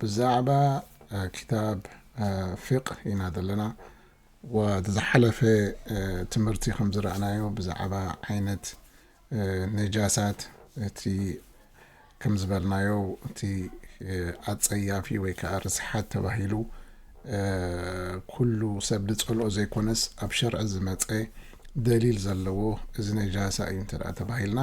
ብዛዕባ ክታብ ፊቅህ ኢና ዘለና ወቲ ዝሓለፈ ትምህርቲ ከም ዝረኣናዮ ብዛዕባ ዓይነት ነጃሳት እቲ ከም ዝበልናዮ እቲ ኣጸያፊ ወይ ከዓ ርስሓት ተባሂሉ ኩሉ ሰብ ዝጸልኦ ዘይኮነስ ኣብ ሸርዒ ዝመጸ ደሊል ዘለዎ እዚ ነጃሳ እዩ እንተ ተባሂልና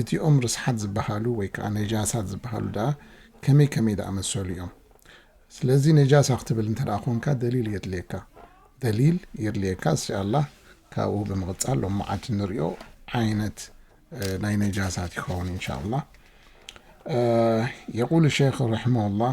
እቲኦም ርስሓት ዝበሃሉ ወይ ከኣ ነጃሳት ዝበሃሉ ደኣ ከመይ ከመይ ዝኣመሰሉ እዮም? ስለዚ ነጃሳ ክትብል እንተ ደኣ ኰንካ ደሊል የድልየካ። ደሊል የድልየካ እስሻ ኣላህ ካብኡ ብምቕጻል ሎምዓንቲ እንርእዮ ዓይነት ናይ ነጃሳት ይኸውን እንሻ ኣላህ። የቁሉ ሸኽ ረሕመሁላህ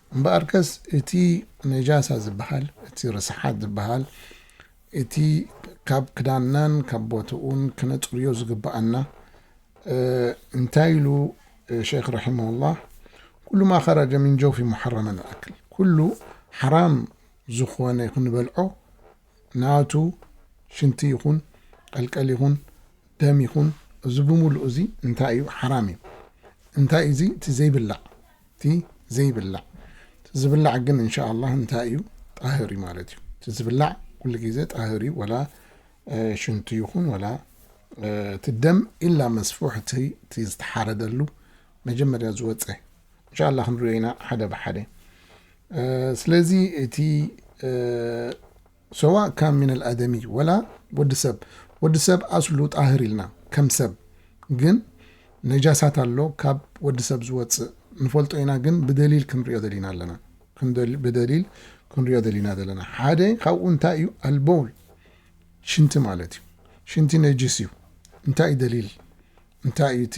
እምበኣርከስ እቲ ነጃሳ ዝበሃል፣ እቲ ርስሓት ዝበሃል፣ እቲ ካብ ክዳንናን ካብ ቦትኡን ክነጽርዮ ዝግበኣና፣ እንታይ ኢሉ ሸይኽ ረሒመሁላህ፣ ኩሉ ማ ኸረጀ ሚን ጀውፊ ሙሓረመን ኣክል፣ ኩሉ ሓራም ዝኾነ ክንበልዖ ናቱ ሽንቲ ይኹን ቀልቀል ይኹን ደም ይኹን እዚ ብምሉኡ እዚ እንታይ እዩ ሓራም እዩ እንታይ እዚ እቲ ዘይብላዕ እቲ ዘይብላዕ እቲ ዝብላዕ ግን እንሻኣላህ እንታይ እዩ ጣህር እዩ ማለት እዩ እቲ ዝብላዕ ኩሉ ግዜ ጣህር እዩ ወላ ሽንቱ ይኹን ወላ እቲ ደም ኢላ መስፉሕ እቲ ዝተሓረደሉ መጀመርያ ዝወፀ እንሻላ ክንሪኦ ኢና ሓደ ብሓደ ስለዚ እቲ ሰዋእ ካን ሚን ኣልኣደሚ ወላ ወዲ ሰብ ወዲ ሰብ ኣስሉ ጣህር ኢልና ከም ሰብ ግን ነጃሳት ኣሎ ካብ ወዲ ሰብ ዝወፅእ ንፈልጦ ኢና ግን ብደሊል ክንሪኦ ደሊና ኣለና ብደሊል ክንሪኦ ደሊና ዘለና ሓደ ካብኡ እንታይ እዩ ኣልቦል ሽንቲ ማለት እዩ ሽንቲ ነጅስ እዩ እንታይ እዩ ደሊል እንታይ እዩ እቲ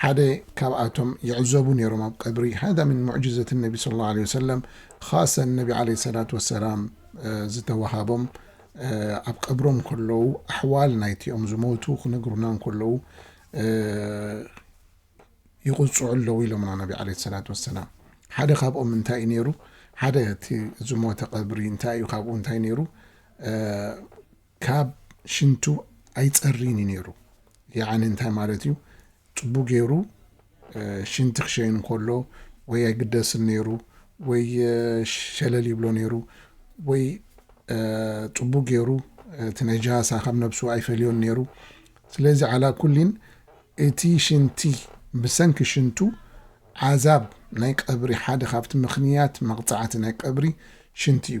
ሓደ ካብኣቶም ይዕዘቡ ነይሮም ኣብ ቀብሪ ሃዳ ምን ሙዕጅዘት ነቢ ሰለላሁ ዓለይሂ ወሰለም ኻሰን ነቢ ዓለይሂ ሰላት ወሰላም ዝተወሃቦም ኣብ ቀብሮም ከለዉ ኣሕዋል ናይቲኦም ዝሞቱ ክነግሩና እንከለዉ ይቑፅዑ ኣለዉ ኢሎምና ነቢ ዓለይሂ ሰላት ወሰላም ሓደ ካብኦም እንታይ እዩ ነይሩ ሓደ እቲ ዝሞተ ቀብሪ እንታይ እዩ ካብኡ እንታይ ነይሩ ካብ ሽንቱ ኣይጸርይን እዩ ነይሩ ያዓኒ እንታይ ማለት እዩ ጽቡቅ ገይሩ ሽንቲ ክሸይን ከሎ ወይ ኣይግደስን ነይሩ ወይ ሸለል ይብሎ ነይሩ ወይ ጽቡቅ ገይሩ እቲ ነጃሳ ካብ ነብሱ ኣይፈልዮን ነይሩ ስለዚ ዓላ ኩሊን እቲ ሽንቲ ብሰንኪ ሽንቱ ዓዛብ ናይ ቀብሪ ሓደ ካብቲ ምክንያት መቅጻዕቲ ናይ ቀብሪ ሽንቲ እዩ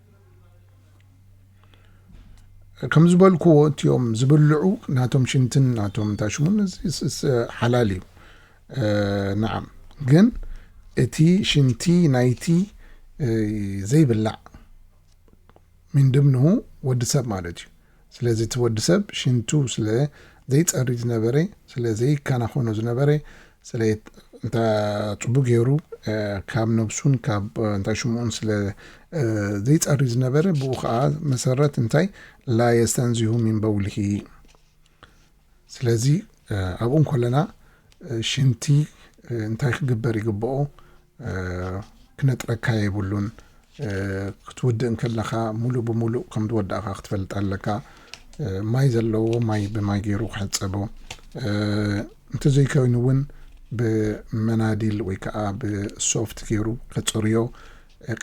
ከም ዝበልክዎ እትኦም ዝብልዑ ናቶም ሽንትን ናቶም ታሽሙን ሓላል እዩ ንዓም ግን እቲ ሽንቲ ናይቲ ዘይብላዕ ምንድምንሁ ወዲ ሰብ ማለት እዩ ስለዚ እቲ ወዲ ሰብ ሽንቱ ስለ ዘይጸሪ ዝነበረ ስለ ዘይከናኸኖ ዝነበረ ስለ እንታይ ጽቡቅ ገይሩ ካብ ነብሱን ካብ እንታይ ሽምኡን ስለ ዘይጸሪ ዝነበረ ብኡ ከኣ መሰረት እንታይ ላ የስተንዚሁ ሚን በውልሂ ስለዚ ኣብኡ እንኮለና ሽንቲ እንታይ ክግበር ይግብኦ ክነጥረካ የብሉን ክትውድእ እንከለኻ ሙሉእ ብሙሉእ ከም ዝወዳእካ ክትፈልጥ ኣለካ ማይ ዘለዎ ማይ ብማይ ገይሩ ክሕፀቦ እንተዘይኮይኑ እውን ብመናዲል ወይ ከዓ ብሶፍት ገይሩ ከፅርዮ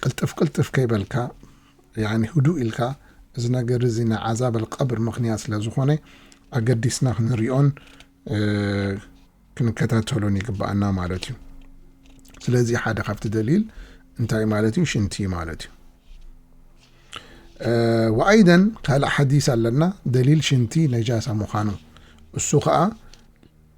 ቅልጥፍ ቅልጥፍ ከይበልካ ያኒ ህዱእ ኢልካ እዚ ነገር እዚ ናይ ዓዛብ ኣልቀብር ምኽንያት ስለ ዝኾነ ኣገዲስና ክንሪኦን ክንከታተሎን ይግባኣና ማለት እዩ ስለዚ ሓደ ካብቲ ደሊል እንታይ ማለት እዩ ሽንቲ ማለት እዩ ወኣይደን ካልእ ሓዲስ ኣለና ደሊል ሽንቲ ነጃሳ ምዃኑ እሱ ከዓ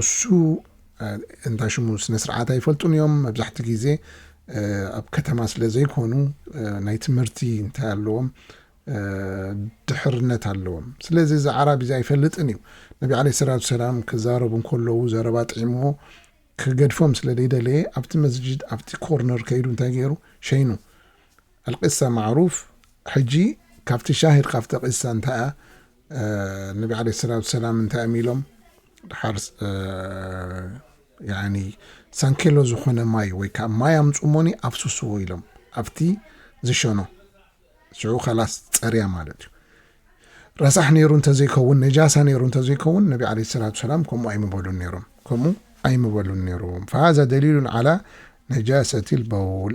እሱ እንዳ ሽሙ ስነ ስርዓት ኣይፈልጡን እዮም መብዛሕቲ ግዜ ኣብ ከተማ ስለ ዘይኮኑ ናይ ትምህርቲ እንታይ ኣለዎም ድሕርነት ኣለዎም ስለዚ እዚ ዓራቢ እዚ ኣይፈልጥን እዩ ነቢ ዓለ ሰላት ሰላም ክዛረቡ እንከለዉ ዘረባ ጥዒምዎ ክገድፎም ስለ ዘይደለየ ኣብቲ መስጅድ ኣብቲ ኮርነር ከይዱ እንታይ ገይሩ ሸይኑ ኣልቂሳ ማዕሩፍ ሕጂ ካብቲ ሻሂድ ካብ ተቂሳ እንታይ እያ ነቢ ዓለይሂ ሰላቱ ሰላም እንታይ እዮም ኢሎም ድሓር ያኒ ሳንኬሎ ዝኾነ ማይ ወይ ከዓ ማይ ኣምፁሞኒ ኣፍስስዎ ኢሎም ኣብቲ ዝሸኖ ሽዑ ከላስ ፀርያ ማለት እዩ ረሳሕ ነይሩ እንተዘይከውን ነጃሳ ነይሩ እንተዘይከውን ነቢ ዓለይሂ ሰላቱ ሰላም ከምኡ ኣይምበሉን ነይሮም ከምኡ ኣይምበሉን ነይሮም ፈሃዛ ደሊሉን ዓላ ነጃሰቲ ልበውል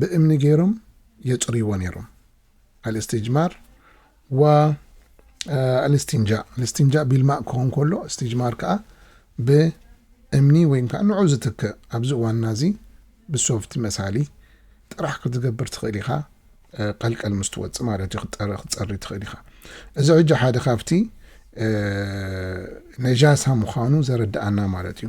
ብእምኒ ገይሮም የጽርይዎ ነይሮም። ኣልእስትጅማር ወኣልእስትንጃእ፣ እስትንጃእ ቢልማእ ክኸውን ከሎ እስትጅማር ከኣ ብእምኒ ወይም ከኣ ንዑ ዝትክእ ኣብዚ እዋንና እዚ ብሶፍቲ መሳሊ ጥራሕ ክትገብር ትኽእል ኢኻ ቀልቀል ምስ ትወጽእ ማለት እዩ ክትጸሪ ትኽእል ኢኻ እዚ ሕጂ ሓደ ካብቲ ነጃሳ ምዃኑ ዘረድኣና ማለት እዩ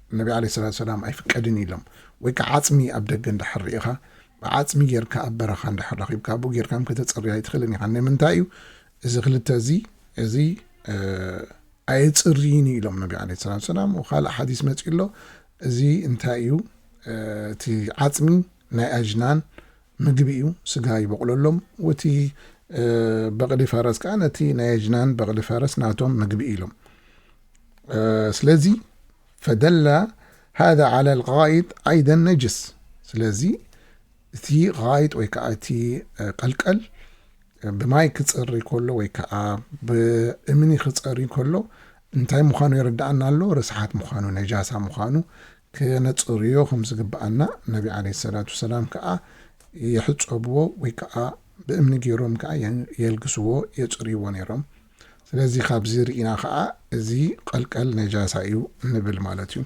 ነቢ ዓለይሂ ሰላቱ ወሰላም ኣይፍቀድን እዩ ኢሎም። ወይ ከኣ ዓጽሚ ኣብ ደገ እንድሕር ርኢኻ፣ ብዓጽሚ ጌርካ ኣብ በረኻ እንድሕር ረኺብካ፣ ኣብኡ ጌርካም ከተጽርይ ኣይትኽእልን ኢኻ። ንምንታይ እዩ እዚ ክልተ እዚ እዚ ኣየጽርይን እዩ ኢሎም ነቢ ዓለይሂ ሰላቱ ወሰላም። ወካልእ ሓዲስ መጺኡ ኣሎ እዚ እንታይ እዩ እቲ ዓጽሚ ናይ ኣጅናን ምግቢ እዩ፣ ስጋ ይበቑለሎም፣ ወቲ በቕሊ ፈረስ ከኣ ነቲ ናይ ኣጅናን በቕሊ ፈረስ ናቶም ምግቢ እዩ ኢሎም። ስለዚ ፈደላ ሃذ ዓላ ልቃይጥ ዓይደን ነጅስ ስለዚ እቲ ቃይጥ ወይ ከዓ እቲ ቀልቀል ብማይ ክፀሪ ከሎ ወይ ከዓ ብእምኒ ክፀሪ ከሎ እንታይ ምዃኑ የረድኣና ኣሎ ርስሓት ምዃኑ ነጃሳ ምዃኑ ከነጽርዮ ከም ዝግብኣና ነቢ ዓለይሂ ሰላቱ ወሰላም ከኣ ይሕጸብዎ ወይ ከኣ ብእምኒ ጌሮም ከኣ የልግስዎ፣ የጽርይዎ፣ ኔሮም። ስለዚ ካብዚ ርኢና ከኣ እዚ ቐልቀል ነጃሳ እዩ ንብል ማለት እዩ።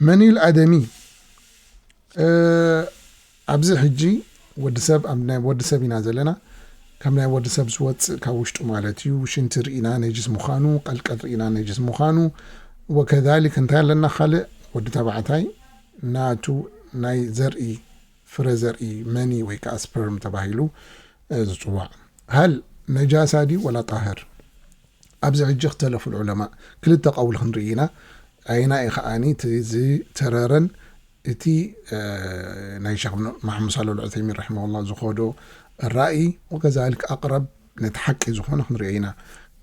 መን እዩ ኣደሚ? ኣብዚ ሕጂ ወዲ ሰብ ኣብ ናይ ወዲ ሰብ ኢና ዘለና ካብ ናይ ወዲ ሰብ ዝወጽእ ካብ ውሽጡ ማለት እዩ ሽንቲ ርኢና ነጅስ ምዃኑ ቀልቀል ርኢና ነጅስ ምዃኑ ወከዛሊክ እንታይ ኣለና ካልእ ወዲ ተባዕታይ ናቱ ናይ ዘርኢ ፍረ ዘርኢ መኒ ወይ ከዓ ስፐርም ተባሂሉ ዝጽዋዕ ሀል ነጃሳ ድዩ ወላ ጣህር ኣብዚ ሕጂ ክተለፉ ዑለማ ክልተ ቀውል ክንርኢ ኢና ኣይና ኢ ከዓኒ እቲ ዝተረረን እቲ ናይ ሸኽ ማሕሙድ ሳልሕ ኣልዑሰይሚን ረሒመሁላህ ዝኾዶ ራኢ ወከዛልክ ኣቅረብ ነቲ ሓቂ ዝኾነ ክንሪኦ ኢና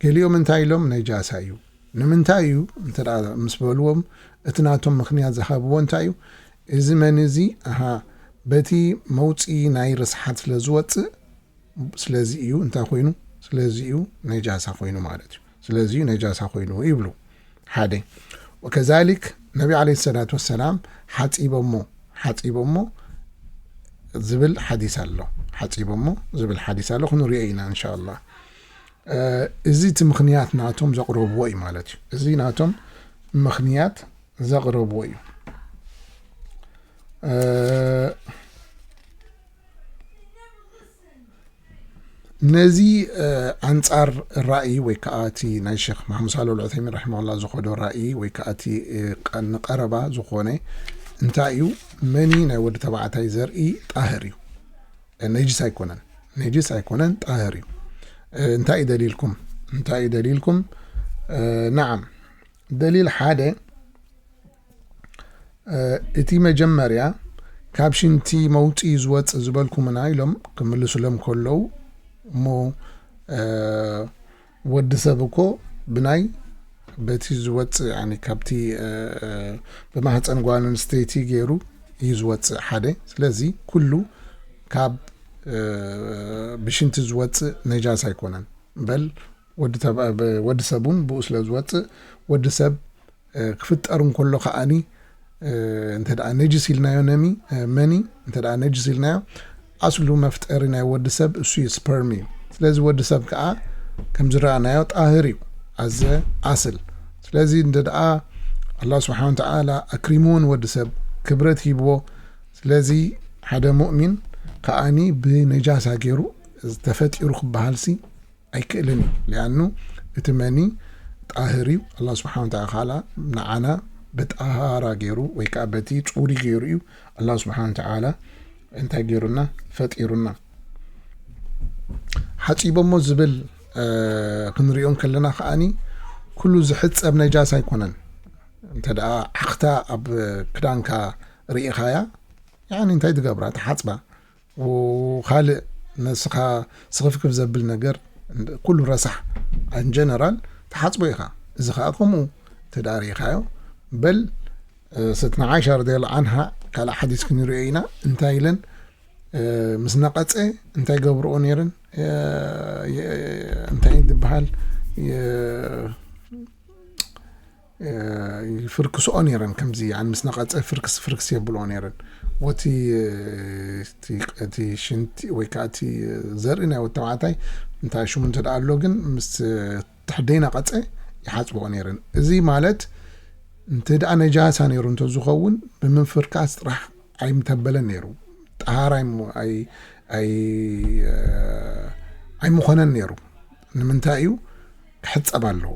ገሊኦም እንታይ ኢሎም ነጃሳ እዩ ንምንታይ እዩ እንተ ምስ በልዎም እቲ ናቶም ምክንያት ዝሃብዎ እንታይ እዩ እዚ መን እዚ ኣሃ በቲ መውፅኢ ናይ ርስሓት ስለ ዝወፅእ ስለዚ እዩ እንታይ ኮይኑ ስለዚ እዩ ነጃሳ ኮይኑ ማለት እዩ ስለዚ እዩ ነጃሳ ኮይኑ ይብሉ ሓደ ወከዛሊክ ነቢ ዓለ ሰላት ወሰላም ሓፂቦሞ ሓፂቦሞ ዝብል ሓዲስ ኣሎ ሓፂቦሞ ዝብል ሓዲስ ኣሎ ክንሪኦ ኢና እንሻ ላ እዚ እቲ ምክንያት ናቶም ዘቕረብዎ እዩ ማለት እዩ እዚ ናቶም ምክንያት ዘቕረብዎ እዩ ነዚ ኣንጻር ራእይ ወይ ከዓ እቲ ናይ ሸክ ማሓሙድ ሳሎ ልዑተይሚን ራሒማላ ዝኸዶ ራእይ ወይ ከዓ እቲ ንቀረባ ዝኾነ እንታይ እዩ መኒ ናይ ወዲ ተባዕታይ ዘርኢ ጣህር እዩ ነጅስ ኣይኮነን ነጅስ ኣይኮነን ጣህር እዩ እንታይ እዩ ደሊልኩም እንታይ እዩ ደሊልኩም ናዓም ደሊል ሓደ እቲ መጀመርያ ካብ ሽንቲ መውጽኢ ዝወጽእ ዝበልኩምና ኢሎም ክምልሱሎም ከለዉ እሞ ወዲ ሰብ እኮ ብናይ በቲ ዝወፅእ ካብቲ ብማህፀን ጓል ኣንስተይቲ ገይሩ እዩ ዝወፅእ ሓደ ስለዚ ኩሉ ካብ ብሽንቲ ዝወፅእ ነጃስ ኣይኮነን በል ወዲ ተባዕ ብ ወዲ ሰብ ውን ብኡ ስለ ዝወጽእ ወዲ ሰብ ክፍጠር እንከሎ ከኣኒ እንተ ነጅስ ኢልናዮ ነሚ መኒ እንተ ነጅስ ኢልናዮ ኣስሉ መፍጠሪ ናይ ወዲ ሰብ እሱ ስፐርም እዩ ስለዚ ወዲ ሰብ ከኣ ከም ዝረኣናዮ ጣህር እዩ ኣዘ ኣስል ስለዚ እንተ ኣላ ስብሓን ወተዓላ ኣክሪምዎ ንወዲ ሰብ ክብረት ሂብዎ ስለዚ ሓደ ሙእሚን ከዓኒ ብነጃሳ ገይሩ ዝተፈጢሩ ክበሃልሲ ኣይክእልን እዩ ሊኣኑ እቲ መኒ ጣህር እዩ ኣላ ስብሓን ወተላ ካላ ንዓና ብጣሃራ ገይሩ ወይ ከዓ በቲ ፁሪ ገይሩ እዩ ኣላ ስብሓን ወተላ እንታይ ገይሩና ፈጢሩና ሓፂቦሞ ዝብል ክንሪኦም ከለና ከዓኒ ኩሉ ዝሕፀብ ነጃስ ኣይኮነን እንተ ዓኽታ ኣብ ክዳንካ ርኢኻያ እንታይ ትገብራ ተሓፅባ ኻልእ ንስኻ ስኽፍክፍ ዘብል ነገር ኩሉ ረሳሕ ኣን ጀነራል ትሓጽቦ ኢኻ እዚ ኸኣ ከምኡ ተዳሪኻዮ በል ሰትና ዓይሻ ረዲየላሁ ዓንሃ ካልእ ሓዲስ ክንሪኦ ኢና እንታይ ኢለን ምስ ነቐፀ እንታይ ገብርኦ ነይረን እንታይ ዝበሃል ይፍርክስኦ ነይረን ከምዚ ምስ ነቐጸ ፍርክስ ፍርክስ የብልኦ ነይረን ወቲ እቲ ሽንቲ ወይ ከዓ እቲ ዘርኢ ናይ ወዲ ተባዕታይ እንታይ ሽሙ እንተ ኣሎ ግን ምስ ትሕደይ ነቐጸ ይሓፅብኦ ነይረን እዚ ማለት እንተ ደኣ ነጃሳ ነይሩ እንተዝኸውን ብምፍርካስ ጥራሕ ኣይምተበለን ነይሩ ጠሃራ ኣይምኾነን ነይሩ ንምንታይ እዩ ክሕፀብ ኣለዎ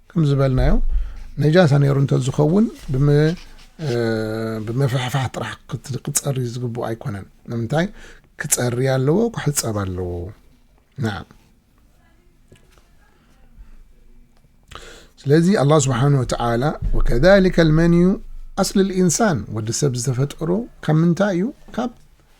ከም ዝበልናዮ ነጃሳ ነይሩ እንተዝኸውን ብምፍሕፋሕ ጥራሕ ክፀሪ ዝግብኦ ኣይኮነን። ንምንታይ ክፀሪ ኣለዎ ክሕፀብ ኣለዎ ና ስለዚ ኣላ ስብሓን ወተላ ወከሊከ ልመንዩ ኣስሊ ልኢንሳን ወዲ ሰብ ዝተፈጠሮ ካብ ምንታይ እዩ ካብ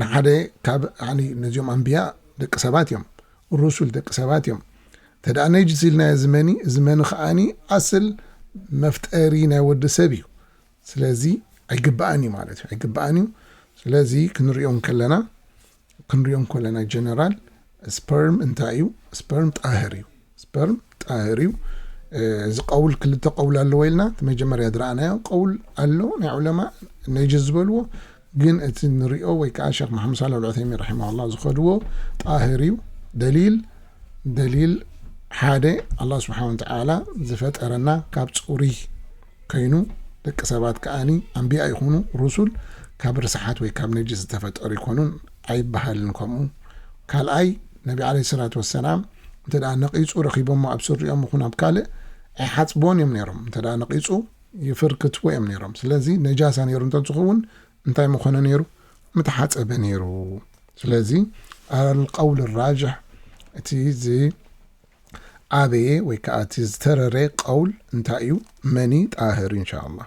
ንሓደ ካብ ያኒ ነዚኦም ኣንብያ ደቂ ሰባት እዮም ሩሱል ደቂ ሰባት እዮም ተደኣ ነጅስ ኢልናዮ ዝመኒ እዚ መኒ ከዓኒ ኣስል መፍጠሪ ናይ ወዲ ሰብ እዩ ስለዚ ኣይግባእን እዩ ማለት እዩ ኣይግባእን እዩ ስለዚ ክንሪኦም ከለና ክንሪኦም ከለና ጀነራል ስፐርም እንታይ እዩ? ስፐርም ጣህር እዩ። ስፐርም ጣህር እዩ። እዚ ቀውል ክልተ ቀውል ኣለዎ ኢልና እቲ መጀመርያ ዝረኣናዮ ቀውል ኣሎ ናይ ዑለማ ነጅስ ዝበልዎ ግን እቲ ንሪኦ ወይ ከዓ ሸክ መሓመድ ሳላ ልዑተይሚን ረሒማላ ዝኸድዎ ጣህር እዩ ደሊል ደሊል ሓደ ኣላ ስብሓን ወተዓላ ዝፈጠረና ካብ ፅሩይ ከይኑ ደቂ ሰባት ከዓኒ ኣንቢያ ይኹኑ ሩሱል ካብ ርስሓት ወይ ካብ ነጅስ ዝተፈጠሩ ይኮኑን ኣይበሃልን ከምኡ ካልኣይ ነቢ ዓለይሂ ሰላቱ ወሰላም እንተ ነቒጹ ረኺቦሞ ኣብ ስሪኦም ይኹን ኣብ ካልእ ኣይሓጽብዎን እዮም ነይሮም እንተ ነቒጹ ይፍርክትዎ እዮም ነይሮም ስለዚ ነጃሳ ነይሩ እንተ ዝኸውን እንታይ ምኾነ ነይሩ ምተሓጸበ ነይሩ ስለዚ ኣልቀውል ራጅሕ እቲ ዚ ዓበየ ወይ ከዓ እቲ ዝተረረ ቀውል እንታይ እዩ መኒ ጣህር ኢንሻ ኣላህ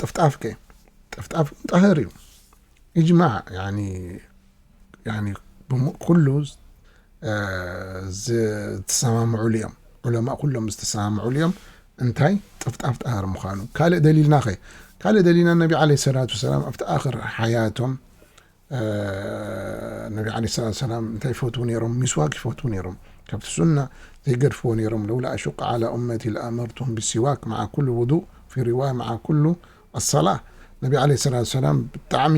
ጥፍጣፍ ከ ጥፍጣፍ ጣህር እዩ እጅማዕ ኩሉ ዝተሰማምዑሉ እዮም ዑለማ ኩሎም ዝተሰማምዑሉ እዮም እንታይ ጥፍጣፍ ጣህር ምዃኑ ካልእ ደሊልና ኸ ካልእ ደሊልና ነቢ ዓለ ሰላት ወሰላም ኣብቲ ኣኽር ሓያቶም ነቢ ዓለይሂ ሰላቱ ወሰላም እንታይ ይፈትዉ ነይሮም? ሚስዋክ ይፈትዉ ነይሮም። ካብቲ ሱና ዘይገድፍዎ ነይሮም። ለውላ ኣሹቀ ዓላ ኡመቲ ለኣመርቱሁም ቢሲዋክ መዓ ኩሉ ውዱእ ፊ ሪዋያ መዓ ኩሉ ኣሰላህ ነቢ ዓለይሂ ሰላቱ ወሰላም ብጣዕሚ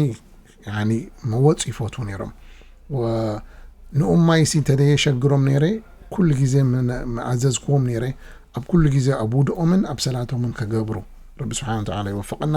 ያኒ መወጽ ይፈትዉ ነይሮም። ንኡም ማይሲ እንተዘየሸግሮም ነይረ ኩሉ ግዜ ምኣዘዝክዎም ነይረ ኣብ ኩሉ ግዜ ኣብ ውድኦምን ኣብ ሰላቶምን ክገብሩ። ረቢ ስብሓነ ወተዓላ ይወፍቐና።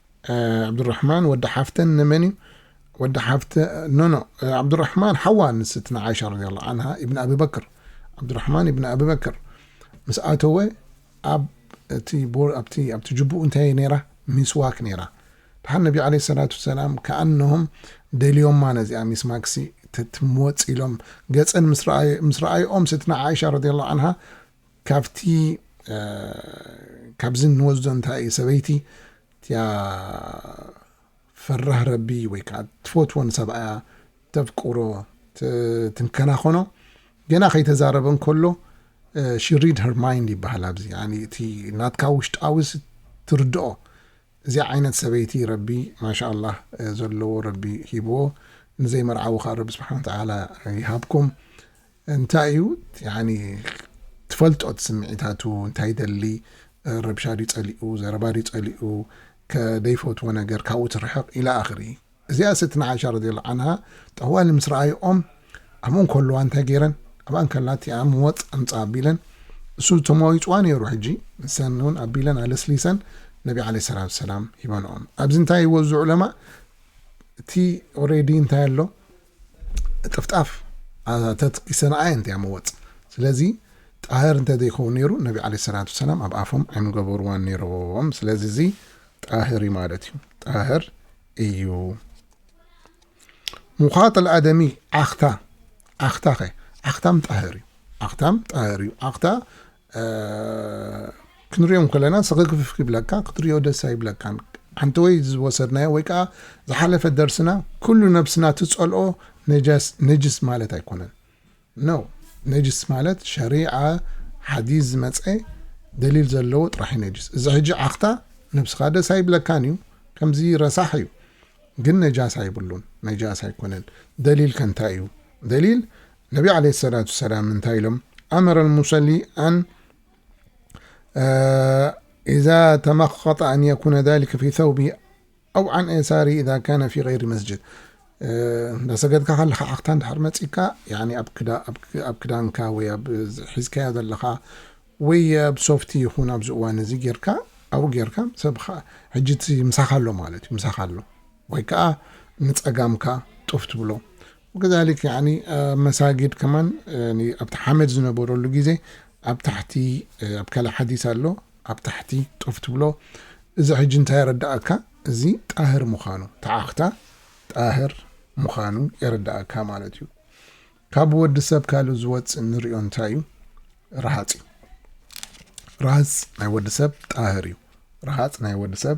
ዓብዱራሕማን ወዲ ሓፍተን ንመን እዩ ወዲ ሓፍተ ኖኖ ዓብዱራሕማን ሓዋ ንስቲ ንዓሻ ረዲ ላ ዓንሃ ኢብኒ ኣብበክር ዓብዱራሕማን ኢብኒ ኣብበክር ምስ ኣተወ ኣብ እቲ ቦኣብቲ ኣብቲ ጅቡኡ እንታይ ነይራ ሚስዋክ ነይራ ድሓን ነቢ ዓለ ሰላት ሰላም ከኣነሆም ደልዮማ ነዚኣ ሚስማክሲ ትትምወፅ ኢሎም ገፀን ምስ ረኣይኦም ስትና ዓሻ ረዲ ላ ዓንሃ ካብቲ ካብዚ እንወስዶ እንታይ እዩ ሰበይቲ እቲኣ ፈራህ ረቢ ወይ ከዓ ትፈትዎ ንሰብኣያ ተፍቅሮ ትንከናኸኖ ገና ከይተዛረበ እንከሎ ሽሪድ ሄር ማይንድ ይበሃል ኣብዚ እቲ ናትካ ውሽጣዊስ ትርድኦ እዚ ዓይነት ሰበይቲ ረቢ ማሻ ኣላህ ዘለዎ ረቢ ሂብዎ ንዘይመርዓዊ ከዓ ረቢ ስብሓን ተዓላ ይሃብኩም እንታይ እዩ ያኒ ትፈልጦ እቲ ስምዒታቱ እንታይ ይደሊ ረብሻ ድዩ ጸሊኡ ዘረባ ድዩ ጸሊኡ ከ ደይፈትዎ ነገር ካብኡ ትርሕቕ ኢላ ኣኽሪ እዚኣ ሰትና ዓሻ ረድየላሁ ዓንሃ ጠዋሊ ምስ ረኣይኦም ኣብኡ እንከለዋ እንታይ ገይረን ኣብኣ እንከላ እቲኣ ምወጽ ኣምጽኣ ኣቢለን እሱ ተመዋዊጽዋ ነይሩ ሕጂ ንሰን እውን ኣቢለን ኣለስሊሰን ነቢ ዓለይሂ ሰላቱ ወሰላም ሂበንኦም ኣብዚ እንታይ ይወዝዑ ለማ እቲ ኦሬዲ እንታይ ኣሎ ጥፍጣፍ ኣተት ይሰናኣየ እንተ ያመወጽ ስለዚ ጣህር እንተ ዘይከውን ነሩ ነቢ ዓለይሂ ሰላቱ ወሰላም ኣብ ኣፎም ኣይምገበሩዋን ነሮም ስለዚ እዚ ጣህር እዩ ማለት እዩ ጣህር እዩ ሙኻጥ ኣደሚ ዓኽታ ዓኽታ ኸ ዓኽታም ጣህር እዩ ዓኽታም ጣህር እዩ ዓኽታ ክንሪኦም ከለና ሰክክፍፍ ይብለካ ክትሪኦ ደስ ኣይብለካን ሓንተወይ ዝወሰድናዮ ወይ ከዓ ዝሓለፈ ደርስና ኩሉ ነብስና ትፀልኦ ነጅስ ማለት ኣይኮነን ነው ነጅስ ማለት ሸሪዓ ሓዲስ ዝመፀ ደሊል ዘለዎ ጥራሕ እዩ ነጅስ እዚ ሕጂ ዓኽታ ነብስኻ ደስ ኣይብለካን እዩ ከምዚ ረሳሕ እዩ ግን ነጃስ ኣይብሉን ነጃስ ኣይኮነን ደሊል ከንታይ እዩ ደሊል ነቢ ዓለይሂ ሰላቱ ሰላም እንታይ ኢሎም ኣመረ ልሙሰሊ ኣን ኢዛ ተመኸጠ ኣን የኩነ ዛሊከ ፊ ሰውቢ ኣው ዓን ኤሳሪ ኢዛ ካነ ፊ ገይሪ መስጅድ እንዳሰገድካ ከለካ ዓኽታ እንድሕር መፂካ ኣብ ክዳንካ ወይ ኣብ ሒዝካዮ ዘለካ ወይ ኣብ ሶፍቲ ይኹን ኣብዚ እዋን እዚ ጌርካ ኣብኡ ጌርካ ሰብ ሕጂ እቲ ምሳኻ ኣሎ ማለት እዩ ምሳኻ ኣሎ ወይ ከዓ ንፀጋምካ ጡፍ ትብሎ ወከዛሊክ ያኒ መሳጊድ ከማን ያኒ ኣብቲ ሓመድ ዝነበረሉ ግዜ ኣብ ታሕቲ ኣብ ካልእ ሓዲስ ኣሎ ኣብ ታሕቲ ጦፍ ትብሎ እዚ ሕጂ እንታይ የረዳኣካ እዚ ጣህር ምዃኑ ተዓኽታ ጣህር ምዃኑ የረዳኣካ ማለት እዩ ካብ ወዲ ሰብ ካልእ ዝወፅእ ንሪኦ እንታይ እዩ ረሃፅ እዩ ረሃፅ ናይ ወዲ ሰብ ጣህር እዩ ረሃፅ ናይ ወዲ ሰብ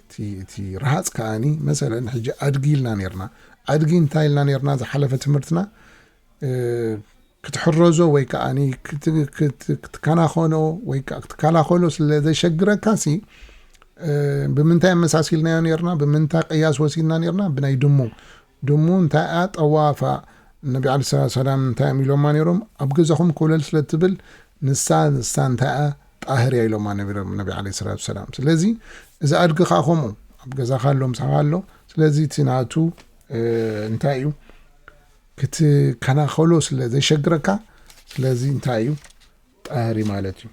እቲ ረሃፅ ከዓኒ መሰለ ሕጂ ኣድጊ ኢልና ነርና ኣድጊ እንታይ ኢልና ነርና ዝሓለፈ ትምህርትና ክትሕረዞ ወይ ከዓ ክትከናኸኖ ወይ ከዓ ክትከላኸሎ ስለ ዘሸግረካ ሲ ብምንታይ ኣመሳሲልናዮ ነርና ብምንታይ ቅያስ ወሲድና ነርና ብናይ ድሙ ድሙ እንታይ'ያ ጠዋፋ? ነቢ ዓለይሂ ሰላቱ ወሰላም እንታይ'ዮም ኢሎማ ነይሮም? ኣብ ገዛኹም ኮለል ስለ እትብል ንሳ ንሳ እንታይ'ያ? ጣህር'ያ ኢሎማ ነይሮም ነቢ ዓለይሂ ሰላቱ ወሰላም። ስለዚ እዚ ኣድጊ ከኣ ከምኡ ኣብ ገዛኻ ኣሎ ምሳኻ ኣሎ ስለዚ እቲ ናቱ እንታይ'ዩ ክትከናኸሎ ስለ ዘሸግረካ ስለዚ እንታይ'ዩ ጣህሪ ማለት'ዩ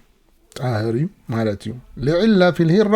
ጣህር'ዩ ማለት'ዩ። ልዒላ ፊል ሂራ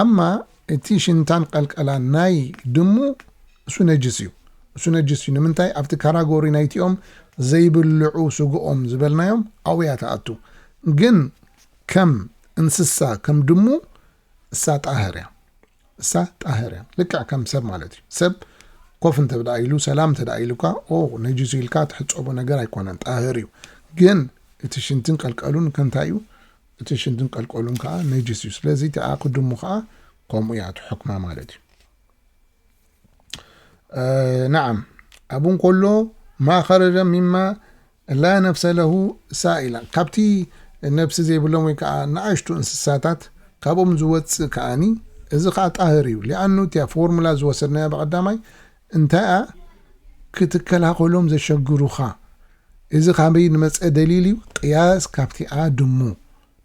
ኣማ እቲ ሽንታን ቀልቀላን ናይ ድሙ እሱ ነጅስ እዩ እሱ ነጅስ እዩ ንምንታይ ኣብቲ ካራጎሪ ናይቲኦም ዘይብልዑ ስግኦም ዝበልናዮም ኣውያ ተኣቱ ግን ከም እንስሳ ከም ድሙ እሳ ጣህር እያ እሳ ጣህር እያ ልክዕ ከም ሰብ ማለት እዩ ሰብ ኮፍ እንተ ብዳ ኢሉ ሰላም እንተ ዳ ኢሉካ ኦ ነጅሱ ኢልካ ትሕፀቦ ነገር ኣይኮነን ጣህር እዩ ግን እቲ ሽንትን ቀልቀሉን ከንታይ እዩ እቲ ሽንትን ቀልቀሉን ከኣ ነጅስ እዩ ስለዚ እቲ ኣቅድሙ ከኣ ከምኡ እያ እቲ ሕክማ ማለት እዩ ነዓም ኣብኡ እንከሎ ማእኸረደ ሚማ ላ ነፍሰ ለሁ ሳኢላ ካብቲ ነብሲ ዘይብሎም ወይ ከዓ ንኣሽቱ እንስሳታት ካብኦም ዝወፅእ ከዓኒ እዚ ከዓ ጣህር እዩ ሊኣኑ እቲያ ፎርሙላ ዝወሰድናያ ብቀዳማይ እንታይ'ኣ ክትከላኸሎም ዘሸግሩኻ? እዚ ካበይ ንመጸ ደሊል'ዩ? ቅያስ ካብቲ ኣድሙ።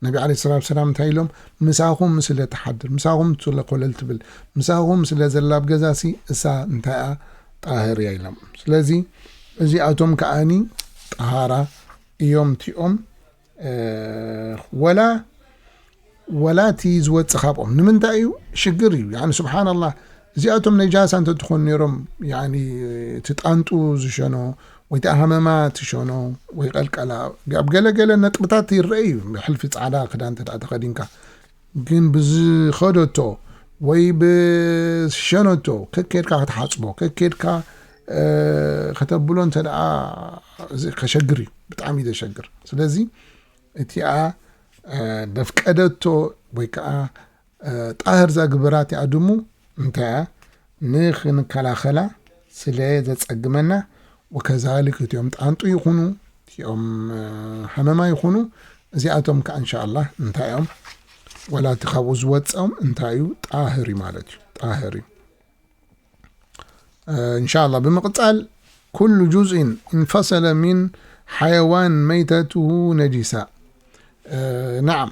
ነቢ ዓለይሂ ሰላቱ ወሰላም እንታይ ኢሎም? ምሳኹም ስለ ትሓድር፣ ምሳኹም ስለ ኮለል ትብል፣ ምሳኹም ስለ ዘላ ኣብ ገዛሲ እሳ እንታይ'ኣ ጣህር'ያ ኢሎም። ስለዚ እዚኣቶም ከኣ ጣህራ እዮም እቲኦም። ወላ ወላ እቲ ዝወጽእ ካብኦም ንምንታይ እዩ ሽግር እዩ ያኒ ስብሓን ኣላህ እዚኣቶም ነጃሳ እንተትኾኑ ነይሮም ያኒ እቲ ጣንጡ ዝሸኖ ወይ እቲ ሃመማ ትሸኖ ወይ ቀልቀላ ኣብ ገለገለ ነጥብታት ይረአ እዩ ብሕልፊ ፃዕዳ ክዳን እንተ ተኸዲንካ ግን ብዝኸደቶ ወይ ብዝሸነቶ ከከድካ ክትሓፅቦ ከከድካ ከተብሎ እንተ ደኣ ከሸግር እዩ ብጣዕሚ እዩ ዘሸግር ስለዚ እቲኣ ደፍቀደቶ ወይ ከዓ ጣህር ዛግበራ እቲኣ ድሙ እንታይ እያ ንክንከላኸላ ስለ ዘጸግመና ወከዛሊክ እቲኦም ጣንጡ ይኹኑ እቲኦም ሃመማ ይኹኑ እዚኣቶም ከኣ እንሻኣላህ እንታይ እዮም ወላ እቲ ካብኡ ዝወጸኦም እንታይ እዩ ጣህር እዩ ማለት እዩ ጣህር እዩ እንሻላ ብምቕጻል ኩሉ ጁዝኢን እንፈሰለ ሚን ሓየዋን መይተትሁ ነጂሳ ናዓም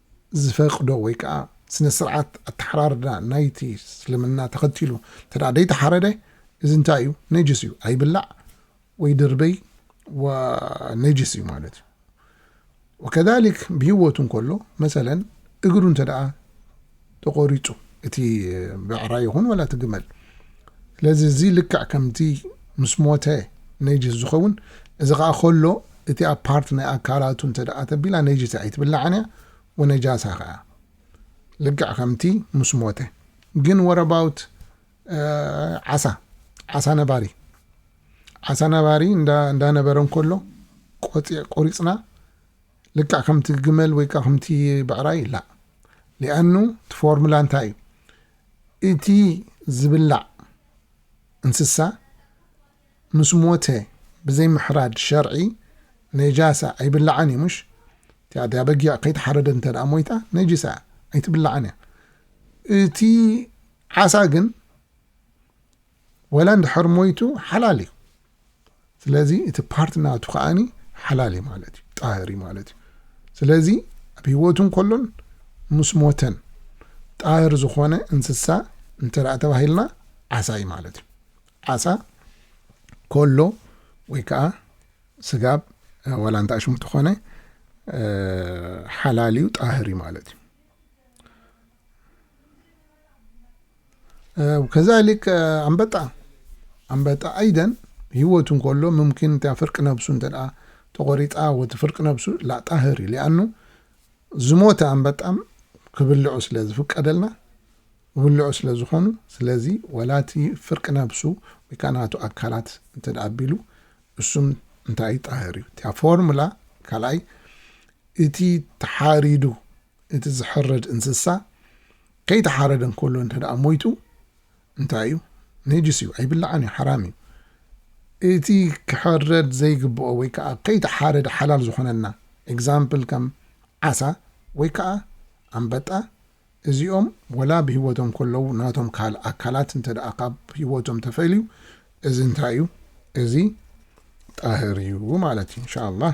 ዝፈቅዶ ወይ ከኣ ስነ ስርዓት ኣተሓራርዳ ናይቲ እስልምና ተኸቲሉ እንተደኣ ደይተሓረደ እዚ እንታይ እዩ ነጅስ እዩ ኣይብላዕ ወይ ድርበይ ነጅስ እዩ ማለት እዩ ወከዛሊክ ብሂወቱ እንከሎ መሰለን እግሩ እንተደኣ ተቆሪጹ እቲ ብዕራይ ይኹን ወላ እቲ ግመል ስለዚ እዚ ልክዕ ከምቲ ምስ ሞተ ነጅስ ዝኸውን እዚ ከዓ ከሎ እቲኣ ፓርት ናይ ኣካላቱ እንተ ደኣ ተቢላ ነጅስ ኣይትብላዕን እያ ወነጃሳ ከያ ልክዕ ከምቲ ምስ ሞተ ግን ወረባውት ዓሳ ዓሳ ነባሪ ዓሳ ነባሪ እንዳነበረ እንከሎ ቆሪፅና ልክዕ ከምቲ ግመል ወይ ከኣ ከምቲ ብዕራይ ላእ ሊኣኑ እቲ ፎርሙላ እንታይ እዩ እቲ ዝብላዕ እንስሳ ምስ ሞተ ብዘይ ምሕራድ ሸርዒ ነጃሳ ኣይብላዕን እዩ ምሽ እቲኣ በጊዕ ከይተሓረደ እንተ ደኣ ሞይታ ነጅሳ እያ ኣይትብላዕን እያ እቲ ዓሳ ግን ወላ እንድሕር ሞይቱ ሓላል እዩ ስለዚ እቲ ፓርቲ ናቱ ከዓኒ ሓላል እዩ ማለት እዩ ጣህር እዩ ማለት እዩ ስለዚ ኣብ ህይወቱ እንከሎን ምስ ሞተን ጣህር ዝኾነ እንስሳ እንተደኣ ተባሂልና ዓሳ እዩ ማለት እዩ ዓሳ ከሎ ወይ ከዓ ስጋብ ወላ እንታይ ሽሙ ተኾነ ሓላል እዩ ጣህር እዩ ማለት እዩ ከዛሊክ ኣንበጣ ኣንበጣ ኣይደን ህይወቱ እንከሎ ምምኪን እታ ፍርቂ ነብሱ እንተ ተቖሪጣ ወቲ ፍርቂ ነብሱ ላጣህር እዩ ሊኣኑ ዝሞተ ኣንበጣም ክብልዑ ስለ ዝፍቀደልና ክብልዑ ስለ ዝኾኑ ስለዚ ወላቲ ፍርቂ ነብሱ ወይ ከዓ ናቱ ኣካላት እንተ ኣቢሉ እሱም እንታይ ጣህር እዩ እቲያ ፎርሙላ ካልኣይ እቲ ተሓሪዱ እቲ ዝሕረድ እንስሳ ከይተሓረደ እንከሎ እንተደኣ ሞይቱ እንታይ እዩ? ነጅስ እዩ፣ ኣይብላዕን እዩ፣ ሓራም እዩ። እቲ ክሕረድ ዘይግብኦ ወይ ከኣ ከይተሓረደ ሓላል ዝኾነልና ኤግዛምፕል ከም ዓሳ ወይ ከኣ ኣንበጣ እዚኦም ወላ ብህይወቶም ከለዉ ናቶም ካል ኣካላት እንተደኣ ካብ ህይወቶም ተፈልዩ እዚ እንታይ እዩ? እዚ ጣህር እዩ ማለት እዩ። ኢንሻ ኣላህ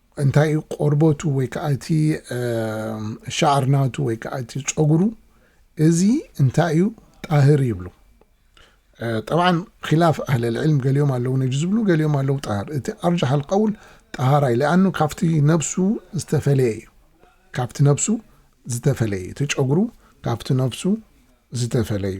እንታይ እዩ ቆርበቱ ወይ ከዓ እቲ ሻዕር ናቱ ወይ ከዓ እቲ ፀጉሩ እዚ እንታይ እዩ ጣህር ይብሉ ጠብዓን ኪላፍ ኣህለል ዕልም ገሊኦም ኣለዉ ነጅ ዝብሉ ገሊኦም ኣለዉ ጣህር እቲ ኣርጃሕ ኣልቀውል ጣሃራይ ለኣኑ ካብቲ ነብሱ ዝተፈለየ እዩ ካብቲ ነብሱ ዝተፈለየ እቲ ጨጉሩ ካብቲ ነብሱ ዝተፈለዩ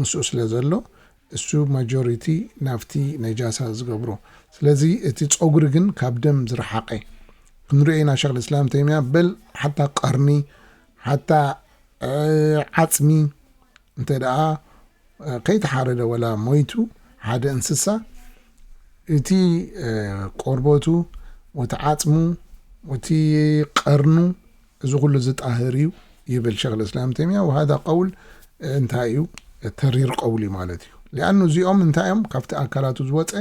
ምስኡ ስለ ዘሎ እሱ ማጆሪቲ ናብቲ ነጃሳ ዝገብሮ ስለዚ እቲ ጾጉሪ ግን ካብ ደም ዝረሓቀ ክንሪኦ ኢና ሸኽ ልስላም ተይምያ በል ሓታ ቀርኒ ሓታ ዓጽሚ እንተ ደኣ ከይተሓረደ ወላ ሞይቱ ሓደ እንስሳ እቲ ቆርበቱ ወቲ ዓጽሙ ወቲ ቀርኑ እዚ ኩሉ ዝጣህር እዩ ይብል ሸኽ ልእስላም ተይምያ ወሃዳ ቀውል እንታይ እዩ ተሪር ቀውል እዩ ማለት እዩ ሊኣኑ እዚኦም እንታይ እዮም ካብቲ ኣካላቱ ዝወፀ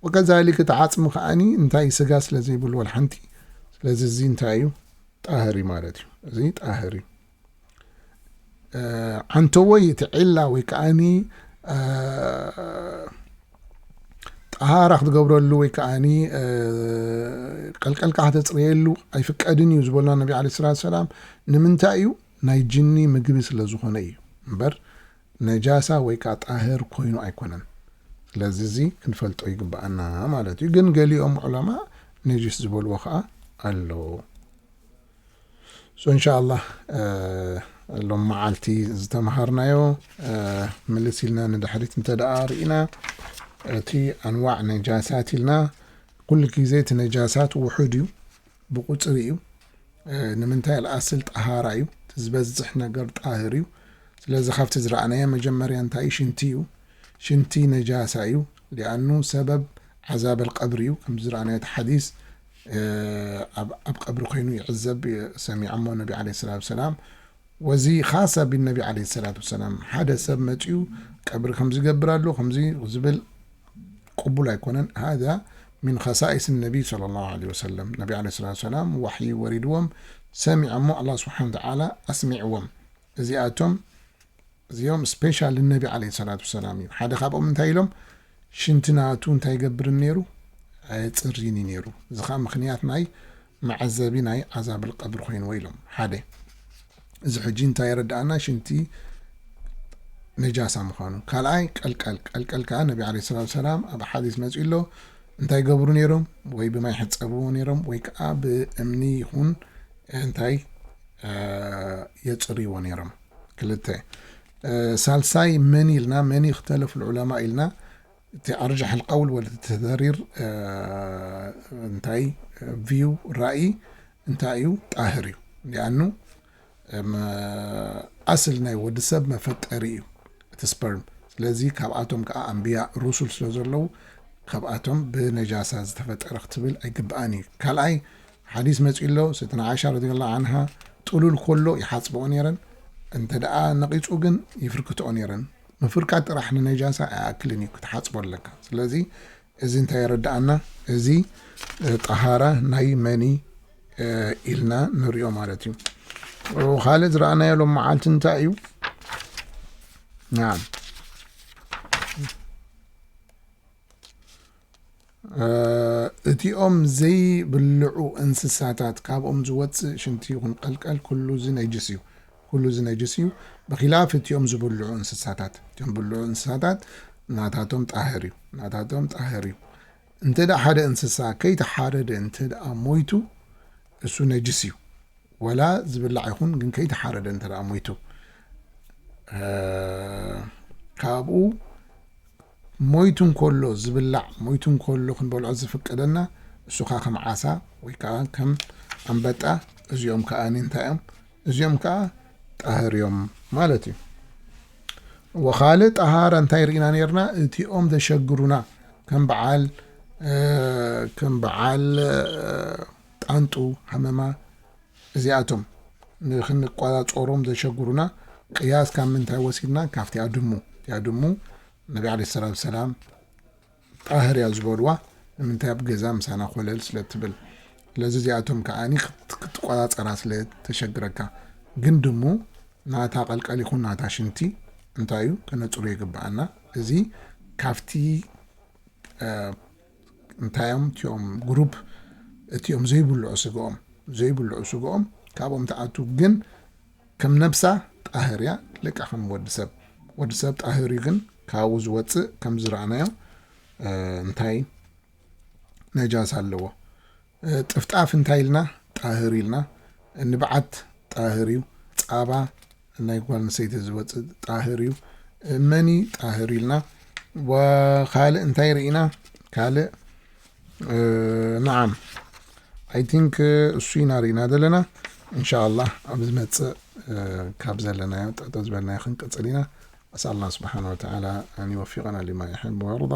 ወከዛሊክ እቲ ዓፅሚ ከዓኒ እንታይ ስጋ ስለ ዘይብሉ ወልሓንቲ ስለዚ እዚ እንታይ እዩ ጣህር እዩ ማለት እዩ እዚ ጣህር እዩ ዓንተወይ እቲ ዒላ ወይ ከዓኒ ጠሃራ ክትገብረሉ ወይ ከዓ ቀልቀልካ ከተፅርየሉ ኣይፍቀድን እዩ ዝበሉና ነቢ ዓለ ስላት ሰላም ንምንታይ እዩ ናይ ጅኒ ምግቢ ስለ ዝኾነ እዩ እምበር ነጃሳ ወይ ከዓ ጣህር ኮይኑ ኣይኮነን ስለዚ እዚ ክንፈልጦ ይግባኣና ማለት እዩ ግን ገሊኦም ዑለማ ነጅስ ዝበልዎ ከዓ ኣሎ ሶ እንሻኣላህ ሎም መዓልቲ ዝተምሃርናዮ ምልስ ኢልና ንድሕሪት እንተ ደኣ ርኢና እቲ ኣንዋዕ ነጃሳት ኢልና ኩሉ ግዜ እቲ ነጃሳት ውሑድ እዩ ብቁፅሪ እዩ ንምንታይ ኣልኣስል ጠሃራ እዩ እቲ ዝበዝሕ ነገር ጣህር እዩ ስለዚ ካብቲ ዝረኣናዮ መጀመርያ እንታይ እዩ ሽንቲ እዩ ሽንቲ ነጃሳ እዩ ሊኣኑ ሰበብ ዓዛብ ኣልቀብሪ እዩ ከምዚ ዝረኣናዮ እቲ ሓዲስ ኣብ ኣብ ቀብሪ ኮይኑ ይዕዘብ ሰሚዐሞ ነቢ ዓለይሂ ሰላቱ ወሰላም ወዚ ኻሰ ብነቢ ዓለይሂ ሰላቱ ወሰላም ሓደ ሰብ መጺኡ ቀብሪ ከምዚ ገብር ኣሎ ከምዚ ዝብል ቅቡል ኣይኮነን ሃዛ ሚን ኸሳኢስ ነቢ ሰለላሁ ዓለይሂ ወሰለም ነቢ ዓለይሂ ሰላቱ ወሰላም ዋሕይ ወሪድዎም ሰሚዐሞ ኣላህ ስብሓነ ወተዓላ ኣስሚዕዎም እዚኣቶም እዚኦም ስፔሻል ንነቢ ዓለይሂ ሰላቱ ወሰላም እዩ። ሓደ ካብኦም እንታይ ኢሎም፣ ሽንቲ ናቱ እንታይ ኣይገብርን ነይሩ፣ ኣየጽርይን እዩ ነይሩ። እዚ ከኣ ምኽንያት ናይ መዐዘቢ ናይ ዓዛብል ቀብሪ ኮይንዎ ኢሎም። ሓደ እዚ ሕጂ እንታይ የረድኣና ሽንቲ ነጃሳ ምዃኑ። ካልኣይ ቀልቀል፣ ቀልቀል ከኣ ነቢ ዓለይሂ ሰላቱ ወሰላም ኣብ ሓዲስ መጺኡ ኣሎ እንታይ ገብሩ ነይሮም፣ ወይ ብማይ ሕጸብዎ ነይሮም፣ ወይ ከኣ ብእምኒ ይኹን እንታይ የጽርይዎ ነይሮም። ክልተ ሳልሳይ መን ኢልና መን ይክተለፍ ልዑለማ ኢልና እቲ ኣርጃሕ ልቀውል ወለ ተደሪር እንታይ ቪው ራእይ እንታይ እዩ ጣህር እዩ ሊኣኑ ኣስል ናይ ወዲ ሰብ መፈጠሪ እዩ እቲ ስፐርም ስለዚ ካብኣቶም ከዓ ኣንብያ ሩሱል ስለ ዘለዉ ካብኣቶም ብነጃሳ ዝተፈጠረ ክትብል ኣይግብኣን እዩ ካልኣይ ሓዲስ መጺኡ ኣሎ ሰይድና ዓኢሻ ረዲየላሁ ዓንሃ ጥሉል ኮሎ ይሓጽበኦ ነይረን እንተ ደኣ ነቒጹ ግን ይፍርክትኦ ነይረን ምፍርካት ጥራሕ ንነጃሳ ኣይኣክልን እዩ ክትሓጽቦ ኣለካ ስለዚ እዚ እንታይ የረድኣና እዚ ጠሃራ ናይ መኒ ኢልና ንሪኦ ማለት እዩ ካልእ ዝረኣናዮ ሎም መዓልቲ እንታይ እዩ ናም እቲኦም ዘይብልዑ እንስሳታት ካብኦም ዝወፅእ ሽንቲ ይኹን ቀልቀል ኩሉ እዚ ነጅስ እዩ ኩሉ እዚ ነጅስ እዩ ብኪላፍ እቲኦም ዝብልዑ እንስሳታት እቲኦም ብልዑ እንስሳታት ናታቶም ጣህር እዩ ናታቶም ጣህር እዩ እንተ ደኣ ሓደ እንስሳ ከይተሓረደ እንተ ደኣ ሞይቱ እሱ ነጅስ እዩ ወላ ዝብላዕ ይኹን ግን ከይተሓረደ እንተ ደኣ ሞይቱ ካብኡ ሞይቱ እንከሎ ዝብላዕ፣ ሞይቱ እንከሎ ክንበልዖ ዝፍቀደና፣ እሱ ከኣ ከም ዓሳ ወይ ከኣ ከም ኣንበጣ፣ እዚኦም ከኣ እንታይ እዮም? እዚኦም ከኣ ጣህር እዮም ማለት እዩ። እወ ካልእ ጣሃራ እንታይ ርኢና ነርና? እቲኦም ዘሸግሩና ከም በዓል ከም በዓል ጣንጡ ሃመማ እዚኣቶም ንክንቆጻጸሮም ዘሸግሩና ቅያስ ካብ ምንታይ ወሲድና ካብቲ ኣድሙ እቲ ኣድሙ ነቢ ዓለይሂ ሰላቱ ወሰላም ጣህር እያ ዝበልዋ ንምንታይ ኣብ ገዛ ምሳና ኮለል ስለ ትብል ስለዚ እዚኣቶም ከዓ ክትቆጻጸራ ስለ ተሸግረካ ግን ድሙ ናታ ቀልቀል ይኹን ናታ ሽንቲ እንታይ እዩ ከነጽሩ ይግብኣና እዚ ካብቲ እንታይ እዮም እቲኦም ግሩፕ እቲኦም ዘይብልዑ ስግኦም ዘይብልዑ ስግኦም ካብኦም ትኣቱ ግን ከም ነብሳ ጣህር እያ ልቃ ከም ወዲ ሰብ ወዲ ሰብ ጣህር እዩ ግን ካብኡ ዝወፅእ ከም ዝረኣናዮ እንታይ ነጃስ ኣለዎ ጥፍጣፍ እንታይ ኢልና ጣህር ኢልና ንብዓት ጣህር እዩ ጻባ ናይ ጓል ኣንስተይቲ ዝወጽእ ጣህር እዩ መኒ ጣህር ኢልና ወካልእ እንታይ ርኢና ካልእ ነዓም ኣይ ቲንክ እሱ ኢና ርኢና ዘለና እንሻ ላህ ኣብ ዝመፅእ ካብ ዘለናዮ ጠጠ ዝበልናዮ ክንቅፅል ኢና ኣስኣልና ስብሓን ወተላ ኣን ይወፊቀና ሊማ ይሕብ ወርዳ